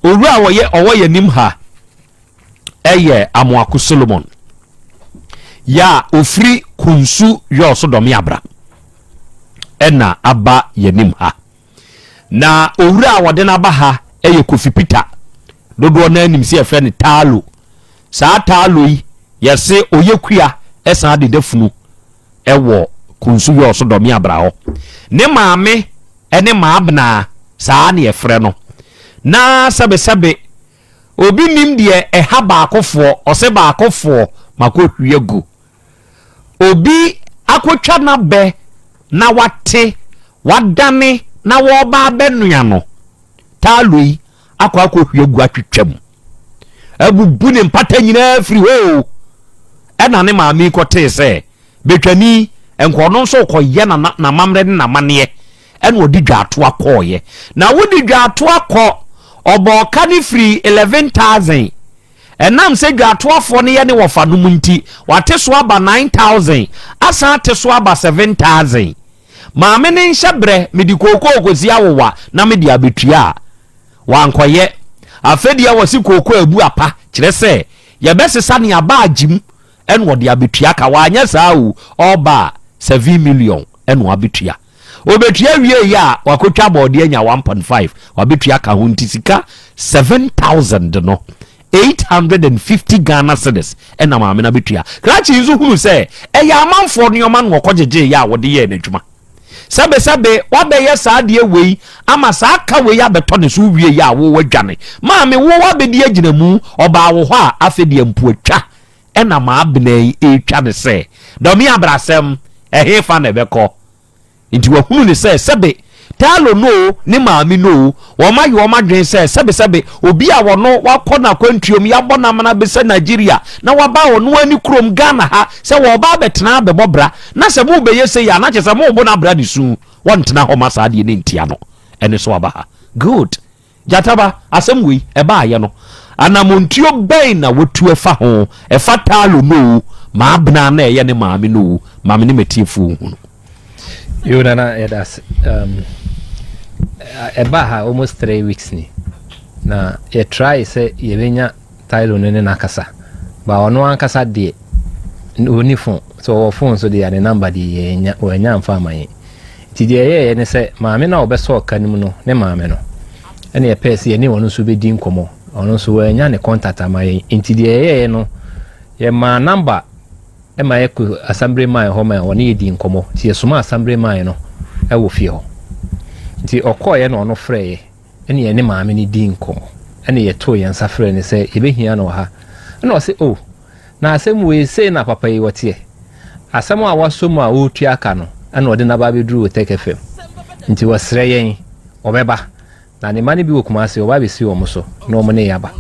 owura a ɔyɛ ɔwɔ yɛn anim ha ɛyɛ Amoako Solomon. Ya ofiri Kunsu yɔɔ so dɔme abra ɛna aba yɛn anim ha. Na owura a wɔde no aba ha ɛyɛ Kofi Peter. Dodoɔ no ara nim sɛ yɛfrɛ no Taalo. Saa Taalo yi, yɛse ɔyɛ kua san de da funu wɔ Kunsu Yɔɔso Dɔme Abra hɔ. Ne maame ne Maabnaa, saa na yɛfrɛ no. Na sɛbesɛbe obi nnim deɛ ɛha baakofoɔ, ɔse baakofoɔ makɔhwie agu. Obi akɔtwa n'abɛ na wate, wadane na wɔreba abɛnoa no. Taalo yi, akɔ akɔhwie agu atwitwa mu abubu ne mpata nyinaa afiri hɔ o ɛna ne maame yi kɔtee sɛ bɛtwani nka ɔno nso kɔyɛ n'amammerɛ ne n'amanneɛ ɛna ɔde dwaatoa kɔɔyɛ na wode dwaatoa kɔ ɔbɔɔka ne firi 11000 ɛnam sɛ dwaatoafoɔ no yɛ ne wɔfa nom nti wate so aba 9000 asan ate so aba 7000 Maame no nhyɛ berɛ, mede kookoo kɔsi awowa na mede abɛtua a, wankɔyɛ. Afei deɛ wɔse kookoo a ɛbu apa, kyerɛ sɛ yɛbɛsesa ne aba agye mu ɛna ɔde abɛtua ka. Wanyɛ saa o, ɔreba a seven million ɛna wabɛtua. Ɔbɛtua wieeɛ a, wakɔtwa bɔɔdeɛ anya one point five, wabɛtua ka ho nti sika seven thousand no Eight hundred and fifty Ghana cedis na maame no abɛtua. Krakye nso hunu sɛ ɛyɛ amanfoɔ nneɛma na ɔkɔ gyegyeeɛ a wɔde yɛɛ n'adwuma. Sɛbesɛbe wabɛyɛ saa adeɛ wei ama saa ka wei abɛtɔ ne so wowie yɛ a wo wadwane. Maame wo abɛdi agyinamu, ɔbaa wo hɔ a afei deɛ mpoatwa na maabena yi retwa no sɛ dɔme abrasɛm, ɛhefa na ɛbɛkɔ? Enti wɔahunu no sɛ, sɛbe Tarlo no oo, ne maame no oo, wɔayɛ wɔn adwene sɛ, sɛbe, sɛbe obi a ɔno wakɔ no akwantuo mu, yɛabɔ no amena bɛsɛ Nigeria, na waba ɔno ara ne kurom, Ghana ha, sɛ wɔreba abɛtena abɛbɔ bra, na sɛ morebɛyɛ sei a, na kyerɛ sɛ morebo no abra ne su, wɔntena hɔ ma saa adeɛ no ntia no, ɛno nso waba ha. Good. Gyata ba, asɛm wei ɛbaayɛ no, anamontuo bɛn na watu ɛfa ho? Ɛfa Taalo no oo, Maabena na ɛyɛ ne maame no oo, ma me ne m'atiefoɔ nhunu. Yoo
Nana yɛda ase. Um, ɛbaa ha almost three weeks ni na yɛtrae sɛ yɛbɛnya Tylo no ne no akasa but ɔno ankasa deɛ na ɔni phone sɛ ɔwɔ phone so deɛ a ne number deɛ yɛanya wɔanya mfa ama yɛn nti deɛ ɛyɛeɛ ne sɛ maame no a ɔbɛsɔɔ ka no mu no ne maame no ɛne ɛpɛɛ sɛ yɛne ɔno nso bɛdi nkɔmmɔ ɔno nso wɔanya ne contact ama yɛn nti deɛ ɛyɛeɛ no yɛmaa number ɛma yɛkɔ asambere man hɔ ma ɔne yɛdi nkɔmmɔ nti yɛsoma asambere man no ɛwɔ fie hɔ nti ɔkɔɔeɛ na ɔno frɛeɛ Ɛnna yɛne maame no dii nkɔmmɔ. Ɛnna yɛtoo yɛn nsa frɛɛ no sɛ yɛbɛhia no wɔ ha. Ɛnna ɔse, O, na asɛm wei, sei na papa yi ɔteɛ. Asɛm a wasɔ mu a ɔretua aka no, ɛnna ɔde no aba abɛduru Oteke fam. Nti ɔsrɛ yɛn, ɔbɛba. Na ne mma no bi wɔ Kumasi, ɔba abɛsi wɔn so, na wɔn ne yɛn aba.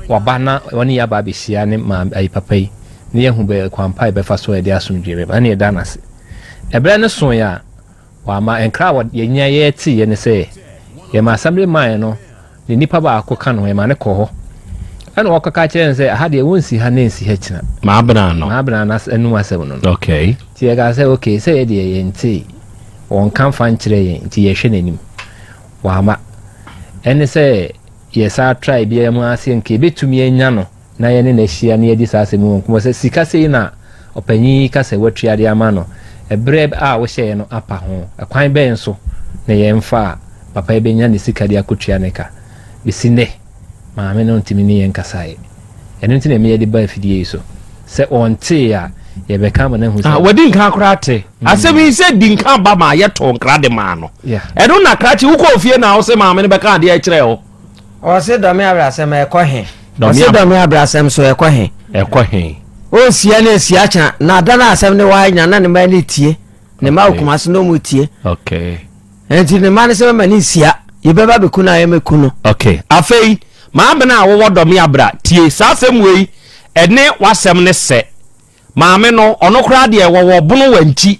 Waba na ɔne yɛn aba abɛhyia ne maame, ayi, papa yi, na yɛahu bɛ, kwan pa a yɛbɛfa so a yɛde asomdwoeɛ bɛba. Ɛnna yɛda no ase. Ɛberɛ no soeɛ a. Wɔama nkra a yɛnya yɛɛ teeɛ ne sɛ, yɛmaa Samiri mae no ne nipa baako ka no ho, yɛmaa no kɔɔ hɔ. Ɛna wɔkɔka kyerɛɛ no sɛ, aha deɛ wɔnsi ha na ɛnsi ha kyina. Maabenaa no. Maabenaa no anum asɛm no no. Okay. Nti yɛkaa
sɛ, okay,
sɛ yɛ deɛ yɛntee, wɔnka mfa nkyerɛ yɛn, nti yɛhwɛ n'anim. Wama. Ɛne sɛ yɛsaa trae biara mu ara sɛ nka yɛbɛtumi anya no. na yɛne no ahyia na yɛadi saa asɛm yi ho nkɔmmɔ sɛ, Sika sei na ɔpanyin yi ka sɛ woatua de ama no bere a wohyɛɛ no apa ho. Kwan bɛn so na yɛmfa a papa yi benya ne sika de akotua ne ka? Besi nnɛ, maame no ntumi ne yɛn nkasae. Ɛno nti na ɛma yɛde ba afidie yi so. Sɛ ɔntee a, yɛbɛka ama no ahu sɛ. Wadi nka koraa te.
Asɛm yi sɛ di nka ba maa yɛtoo nkra de maa no. Ɛno na krakye wokɔɔ fie na wo se maame no bɛka adeɛ kyerɛɛ wo. Ɔse dɔme
abrasɛm ɛkɔ he? Ɔse dɔme abrasɛm so ɛkɔ he? Ɛkɔ he? O nsia ne nsia kya na ada no asɛm ne waa nya na ne mma ne tie ne mma wɔ kumase na ɔmu tie
nti ne mma
ne sɛ mɛma ne nsia yɛbɛba bɛku no a yɛmɛku no. Ok afei
maame no a wowɔ dɔme abra tie saa asɛm wei ɛne wasɛm ne sɛ maame no ɔno koraa deɛ wɔwɔ bono wankyi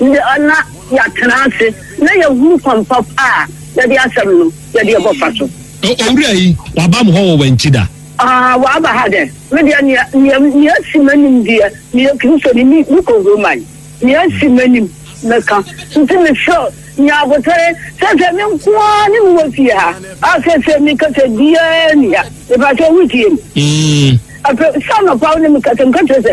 Ná yɛatena ase na yɛahunu kwan pa a yɛde asɛm no yɛde rebɔ fa so. Owura yi,
waba me hɔ wɔ Wantida? Aane, waba ha
dɛn? Me deɛ, nea, nea, nea asi m'anim deɛ, meyɛ Kristoni, me, mekɔ Roman. Nea asi m'anim, mɛka. Nti mesrɛ wo, nya abotare. Seesei me nko ara ne wo wɔ fie ha. A, seesei me kasa biara nni ha. Mepa wo sɛ wotie me. Afei, sɛ anɔpa wo ne me kasa, meka kyerɛ sɛ.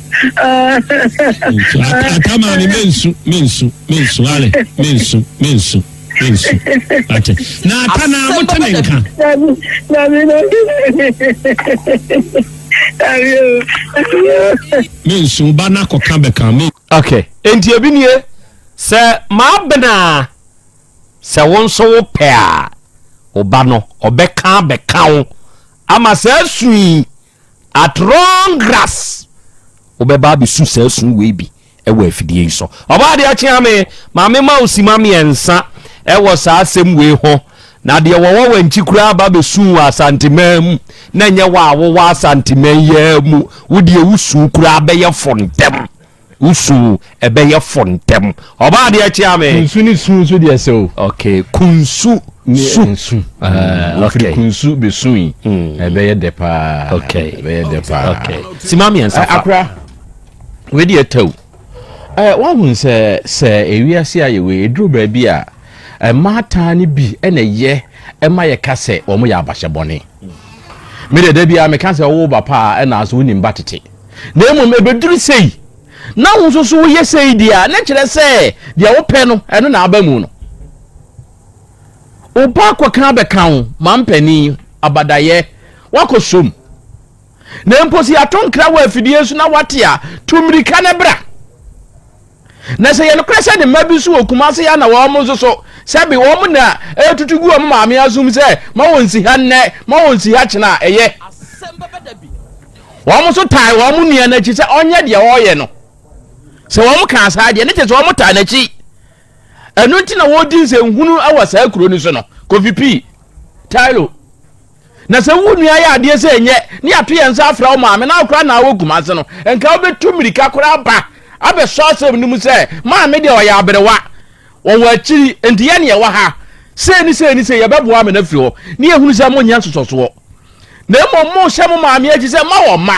atama mi mensu mensu mensu ale mensu mensu mensu ate na ata na mo te ne nka. mensu ba na kɔka bɛka me. okay nti ebi nie sɛ maa benaa sɛ wo nso wo pɛ a ɔba no ɔbɛka bɛka wo ama saa sui. At long grass wobɛba abɛsu saa su wei bi wɔ afidie yi so. Ɔbɔ adeɛ akyea me ma me ma wo sima mmiɛnsa wɔ saa asɛm wei ho. Na deɛ wɔwɔ wankyi koraa aba bɛsu wɔ asanteman mu na nyɛ wɔ a wowɔ asanteman yi ara mu wo deɛ wo su koraa bɛyɛ fo ntɛm. Wo su ɛbɛyɛ fo ntɛm. Ɔbaa adeɛ kyea me. Kunsu ne su nso deɛ sɛ
o. Ok, kunsu
su. Ne su.
Ɛɛ, ok. Firi kunsu bɛ su yi. Ɛbɛyɛ dɛ paa. Ok. Ɛbɛyɛ dɛ
paa. Ok.
Sima mmiɛnsa
fa. Akora,
wei deɛ ɛtɛ o. Ɛɛ, w'ahunu sɛ, sɛ ewiase ayɛ wei, eduru baabi a, mmaatan no bi na ɛyɛ ɛma yɛka sɛ wɔn yɛ abahyɛbɔne. Me deɛ da biara meka sɛ wowo ba paa ɛna nso wonim ba tete. na mmom ɛbɛduru sei na wo nso so woyɛ sei deɛ a, na kyerɛ sɛ deɛ wopɛ no, ɛno na aba mu no. Wo ba akɔka abɛka wo mampanin abadayɛ, wakɔ som. Na mpo sɛ yɛato nkra wɔ afidie so na wate a, tu mmirika no bra. Na sɛ yɛ nokorɛ sɛ ne mma bi nso wɔ Kumase ha na wɔn nso so, sɛbe wɔn na ɛretutu gu wɔn maame asom sɛ ma wɔnsi ha nnɛ, ma wɔnsi ha kyena a, ɛyɛ. Wɔn nso tae wɔn nua no akyi sɛ ɔnyɛ deɛ ɔreyɛ no. Sɛ wɔn kaa saa deɛ, ne kyerɛ sɛ wɔn taa n'akyi. Ɛno nti na wɔredi nsɛnhunu wɔ saa kuro no so no. Kofi P. Tailo. Na sɛ wo nua yɛ adeɛ sɛ ɛnyɛ ne yɛato yɛn nsa afra wo maame na wo koraa na wɔ Kumase no, nka wobɛtu mmirika koraa aba abɛsɔ asɛm no mu sɛ, Maame deɛ ɔyɛ aberewa, ɔwɔ akyiri, enti yɛn yɛwɔ ha, sei ne sei ne sei, yɛbɛboa Amina afiri hɔ. Ne yɛhunu sɛ monyɛ nsosɔsoɔ. Na mmom mohyɛ mo maame akyi sɛ mma wɔ mma.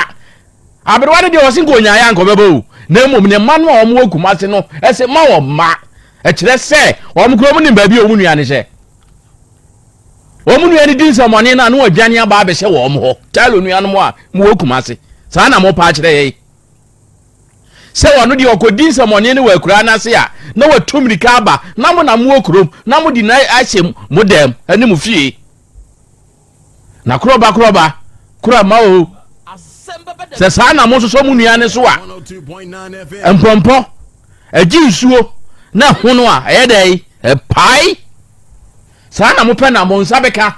Aberewa no deɛ ɔse nka ɔnyaeɛ anka ɔbɛba o. Na mmom ne mma no a wɔwɔ Kumase no se mma wɔ mma. Ɛkyerɛ sɛ wɔn koraa wɔnim baabi a wɔn nua no hyɛ. wɔn nua no di nsɛmmɔne no a na wɔadwane aba abɛhyɛ wɔn hɔ talo nuanom a mowɔ kumase saa na mopa akyerɛ yɛn sɛ wɔn deɛ ɔkɔdi nsɛmmɔne no wɔ akuraa no ase a na wɔatu mmirika aba na mo na mowɔ kurom na mode no ahyɛ mo dɛm ne mo fie na korɔba korɔba korama o sɛ saa na mososɔ mo nua no so a mpɔmpɔ Agye nsuo na ahono a, ɛyɛ dɛn? Ɛpae. Saa na mopɛ na mo nsa bɛka.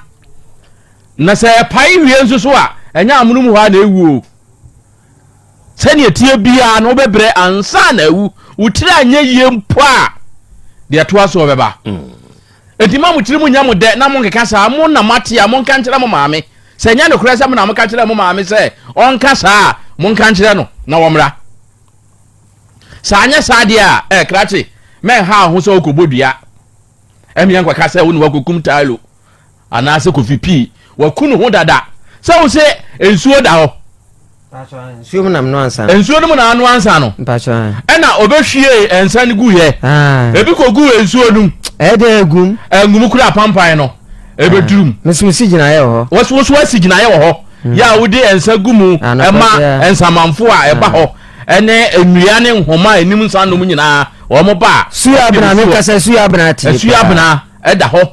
Na sɛ ɛpae wie nso so a, ɛnyɛ amonom hɔ a na ɛwu o. Sɛdeɛ ɛteɛ biara no wobɛbrɛ ansa na awu. Wo tiri anyɛ yie mpo a, deɛ ɛtoa soɔ bɛba. Enti ma mo tiri mu nyɛ mo dɛ na monkeka saa. Mo na moate a, monka nkyerɛ mo maame. Sɛ ɛnyɛ nokorɛ sɛ mo na moka kyerɛɛ mo maame sɛ ɔnka saa a, monka nkyerɛ no na ɔmmra. Sɛ anyɛ saa deɛ a, eh, krakye, mɛnha wo ho sɛ wokɔbɔ dua. Ɛmia nkɔka sɛ wo na woakɔkum Tailo anaasɛ Kofi Pii. Waku ne ho dada. Sɛ wo se nsuo da hɔ. Nsuo
mu na menoa nsa no. Nsuo no mu na anoa nsa
no. Ɛna
ɔbɛhwie
nsa no guiɛ. Ebi kɔgu nsuo no mu. Ɛyɛ dɛ agum.
Agum kura pampan
no. Ɛbɛdurum. Meso si gyinaeɛ wɔ
hɔ. Wɔso wɔso asi gyinaeɛ wɔ
hɔ. Yɛ a wode nsa gu mu ɛma nsamanfo a ɛba hɔ Ɛne nnua ne nhoma a ennim nsa nnom nyinaa, wɔn ba a. Suabena, meka sɛ
Suabena te paa. Suabena da
hɔ.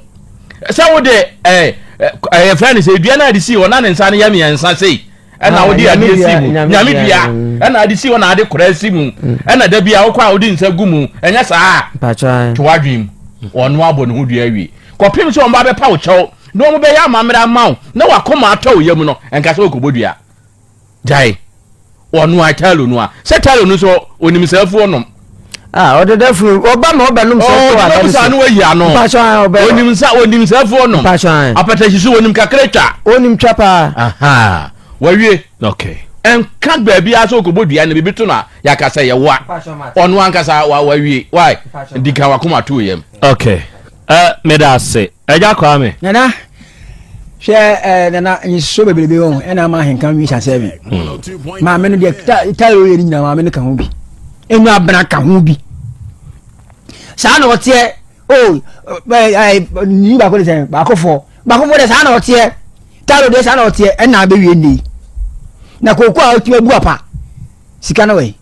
Sɛ wode ɛɛ, ɛɛ yɛfrɛ no sɛ dua no a wɔde sii hɔ na ne nsa no yɛ mmiɛnsa sei, ɛna wode adeɛ si mu, Nyame dua, ɛna ade si hɔ na ade kora si mu, ɛna da biara wokɔ a wode nsa gu mu, ɛnyɛ saa a? Mpakyɛ ae. To w'adwene
mu.
Ɔno abɔ ne ho dua awie. Kɔpem sɛ wɔba abɛpa wo kyɛw na wɔbɛyɛ amammerɛ ama wo na w'akoma atɔ wo yam no, ɛnka sɛ wokɔbɔ dua. Gyae. Wɔnoa kyalo no a, sɛ kyalo no nso onim sɛ afuo nom. Ah, ɔdedafunu
ɔba ma ɔbɛnom sɛ afuo a ɔde saa no wayi ano. Mpatsɔ
an ɔbɛ. Onim
sa onim sɛ afuo
nom. Mpatsɔ an. Apatahyi so
onim kakra
twa. Onim twa paa.
Aha,
wawie. Okay.
Ɛnka baabi
ara sɛ ɔkɔbɔ dua no biribi to no a yɛaka sɛ yɛwoa. Ɔno ankasa wawie. Why? Di kan wakoma to yam. Okay. Ɛ
meda ase Agya Kwame. Nana
hwɛ ɛɛ nana nsuo bebrebe wɔn ɛna ama ahenkan wi sa sɛbi hmm. maame no deɛ ta ta yɛ oyɛ ne nyinaa maame no ka ho bi enu abena ka ho bi saa na ɔteɛ o ɛɛ nyi baako de sɛ baako fɔ baako fɔ de saa na ɔteɛ ta yɛ de saa na ɔteɛ ɛna abɛwie ne na kooko a ɔtumi abu apa sika no wɛ.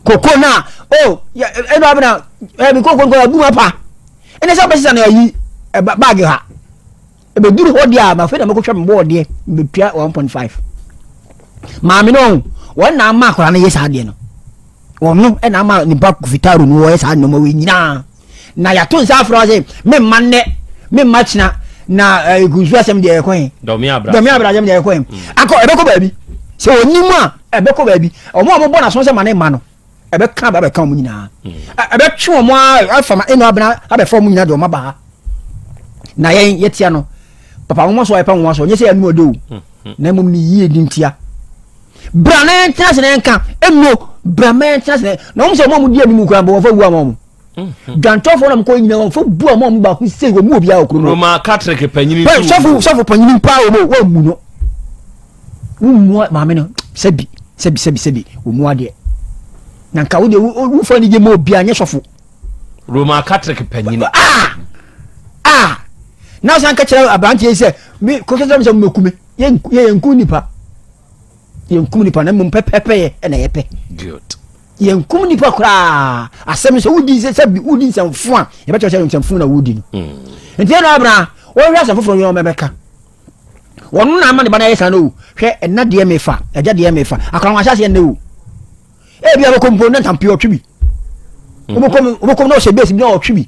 koko na o oh, ɛna eh, abena ɛɛ eh, mi koko nkɔ abu ma pa ɛna sɛ ɔbɛ sisan na ɛyi ɛba baagi ha ɛbɛ duru hɔ deɛ a ma fɛ na mo kɔ twɛ mo bɔɔl deɛ mbɛ tua one point five maame no ɔn wɔn na ama akora no yɛ saa deɛ no wɔn no ɛna ama nipa kofitaro no wɔyɛ saa nneɛma wɔ nyinaa. na yɛato nsa afrɛ sɛ memma nnɛ memma kyena na ɛgusu eh, asɛm deɛ ɛkɔ he dɔme abrasɛm
deɛ ɛkɔ he mm.
akɔ ɛbɛkɔ baabi sɛ ɔnim a ɛbɛkɔ baabi ɔmo a mobɔ naso sɛ ma ne mma no ɛbɛka ba bɛka ɔmo nyinaa mm. ɛbɛtwe ɔmo afama ɛnu abena abɛfa ɔmo nyinaa deɛ ɔma baa na yɛn yɛtia no papa nwoma so a yɛpa nwoma so ɔnyɛ sɛ yɛanum ɔde o na mmom ne yie di ntia bra na yɛntena ase na yɛnka ɛnuo bra ma yɛntena ase na wɔn sɛ wɔn a wɔdi anim kura bɔ wɔfa wu ama wɔn dwantɔfoɔ na mokɔ nyina wɔfa bu ama wɔn baako sei wɔn mu obiara wɔ kurom roma katrik panyini
tu sɔfo sɔfo panyini
paa wɔn wɔn mu no wɔn mu maame no sɛbi sɛbi sɛbi sɛbi wɔn mu adeɛ na nka wo deɛ wofa ne gye ma obiara nyɛ sɔfo roman
catholic panyini a a
na ɔsan ka kyerɛ aberanteɛ yi sɛ me kɔkɛ sɛ sɛ mɛku me yɛnku nipa yɛnkum nipa na mmom pɛpɛpɛyɛ ɛna yɛpɛ
yɛnkum nipa
koraa asɛm sɛ wodi sɛ sɛ wodi nsɛmfo a yɛbɛkyerɛ sɛ nsɛmfo na wodi no hmm. nti ɛna abena wɔhwɛ asɛm foforɔ yɛ ɔmɛbɛka wɔno na ama ne ba no ayɛ saa no o hwɛ ɛna deɛ mefa agya deɛ mefa akɔnwahyɛ aseɛ nnɛ o ebi a wɔkɔ mpo na ntampio ɔtwe bi wɔkɔ mu wɔkɔ mu na ɔhyɛ base bi na ɔtwe bi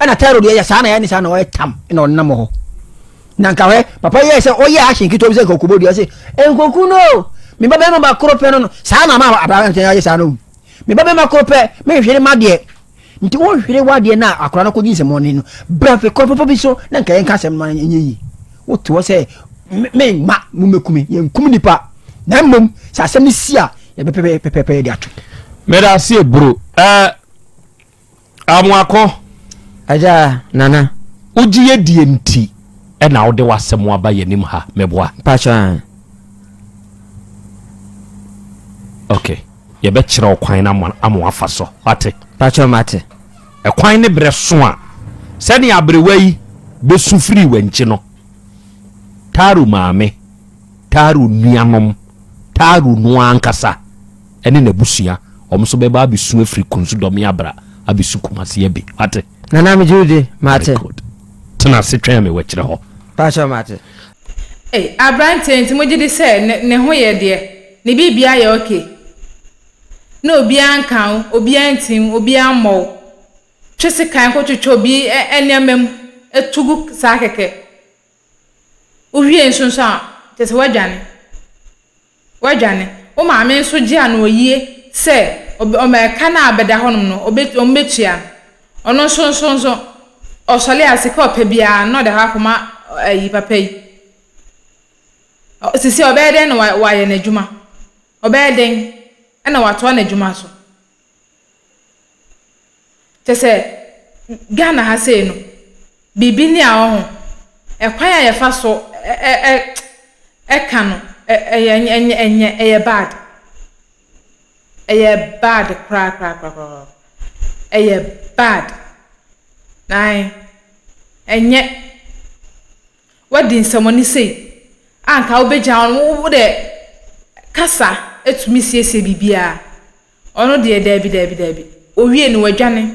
ɛna tɛro deɛ yɛ saa na yɛ ne saa na ɔyɛ tam na ɔnam hɔ na nka hɛ papa yɛ sɛ ɔyɛ ahyɛn ketewa bi sɛ nka ɔkɔbɔ dua sɛ nkoku no me ba bɛrima ba koro pɛ no no saa na ma abrabantɛ ayɛ saa no me ba bɛrima koro pɛ me nhwere ma deɛ Nti wo hwere wadeɛ na akora no kɔgye nsɛmɔne no bra fi kwan papa bi so na nka yɛnka asɛm no ma ɛnyɛ yi wo toɔ sɛ me mma mo mɛkume yɛnkum nipa na mmom sɛ asɛm no si a yɛbɛpɛpɛpɛpɛ yɛde ato mɛda aseɛ bro
ɛɛ amoakɔ agya
nana wogye yɛ deɛ
nti na wode w'asɛm aba yɛn anim ha meboa? Mpakyɛw aah. Ok, yɛbɛkyerɛ wo kwan no ama ama woafa so. Wate? Mpakyɛw mate.
Ɛkwan ne
berɛ so a sɛnea aberewa yi bɛsu firii w'ankyi no, Taro maame, Taro nuanom, Taro no ara ankasa ne n'abusua, wɔn nso bɛba abɛsu afiri Kunsudɔme abra abɛsu Kumasi abi. Wate? Nana megye wo di.
Mate. Very good. Tena ase
twɛn me wɔ akyire hɔ. Pakyɛw mate.
Ei
abranteɛ nti mo gyedi sɛ ne ne ho yɛ deɛ ne biribiaa yɛ ok na obiaa nka wo obiaa nti wo obiaa mmɔ wo twe sekan kɔ twetwɛ obi nneɛma mu to gu saa kɛkɛ wo hwie nso nso a kyɛsɛ woadwane Woadwane. Wo maame nso gyee anoɔyie sɛ ɔbɛ, ɔma ɛka no a bɛda hɔnom no, ɔbɛ, wɔn bɛtua no. Ɔno nso nso nso, ɔsɔle a, sika a ɔpɛ biara no, na ɔde akɔ akɔma ɔ, ayi, papa yi. Ɔ, seesei ɔbɛyɛ dɛn na wa, wayɛ n'adwuma? Ɔbɛyɛ dɛn na watoa n'adwuma so? Kyerɛ sɛ, Ghana ha sei no, biribi ni a hɔ ho. Ɛkwan a yɛfa so ɛ ka no, ɛnyɛ, ɛyɛ bad. Ɛyɛ bad korakorakoraa. Ɛyɛ bad. Aane, ɛnyɛ. Wadi nsɛmmɔne sei a anka wobɛgyaa no, wo deɛ kasa tumi siesie biribiara, ɔno deɛ daabi daabi daabi, ɔwie no wadwane.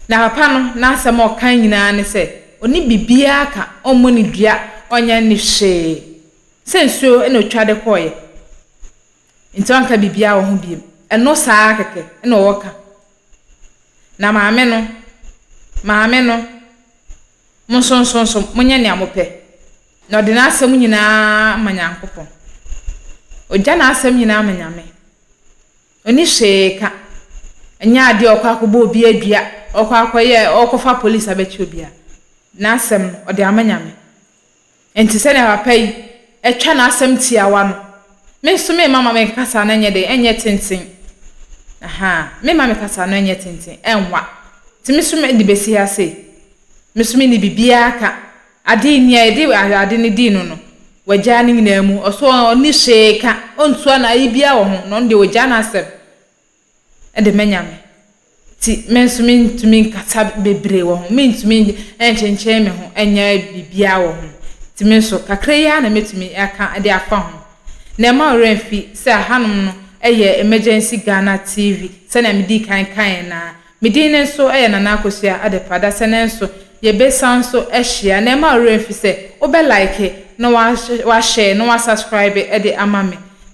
Na papa no n'asɛm a ɔka nyinaa ne sɛ ɔnni biribiara ka, ɔmmɔ ne dua, ɔnyɛ ne hwee, sɛ nsuo na ɔtwa de kɔeɛ nti ɔnka biribiara wɔ ho bio. Ɛno saa ara kɛkɛ na ɔwɔ ka. Na maame no, maame no. Mo nso nso nso monyɛ nea mopɛ. Na ɔde n'asɛm nyinaa ma Nyankopɔn. Ogya n'asɛm nyinaa ma Nyame. Onni hwee ka. Ɛnyɛ adeɛ a ɔkɔ akɔbɔ obi adua, ɔkɔ akɔyɛ, ɔkɔfa police abɛkyɛ obi a. N'asɛm no, ɔde ama Nyame. Enti sɛnea papa yi twa n'asɛm tiawa no, me nso meremma ma me kasa no nyɛ dɛn? Ɛnyɛ tenten. Ahaa, meremma me kasa no nyɛ tenten, ɛnwa. Enti me nso de besi ha sei, me nso menni biribiara ka. Ade yi, nea yɛde ade no dii no no, wagyaa ne nyinaa mu. Ɔso ɔnni hwee ka, ontua no, ayi biara wɔ ho, na ɔno deɛ wagyaa n'asɛm. de manya me ti. Me nso mentumi nkasa bebree wɔ ho. Mentumi nkyenkyen me ho nyɛ biribiara wɔ ho. Nti me nso, kakra yi ara na mɛtumi aka de afa ho. Na ɛmma wo werɛ mfi sɛ hanom no yɛ Emergency Ghana TV, sɛnea medii kan kaeɛ no ara. Me din no nso yɛ Nana Akosua Adepa. Dasɛ no nso, yɛbɛsan nso ahyia. Na ɛmma wo werɛ mfi sɛ, wobɛ like, na woahyɛɛ, na woasubscribe de ama me.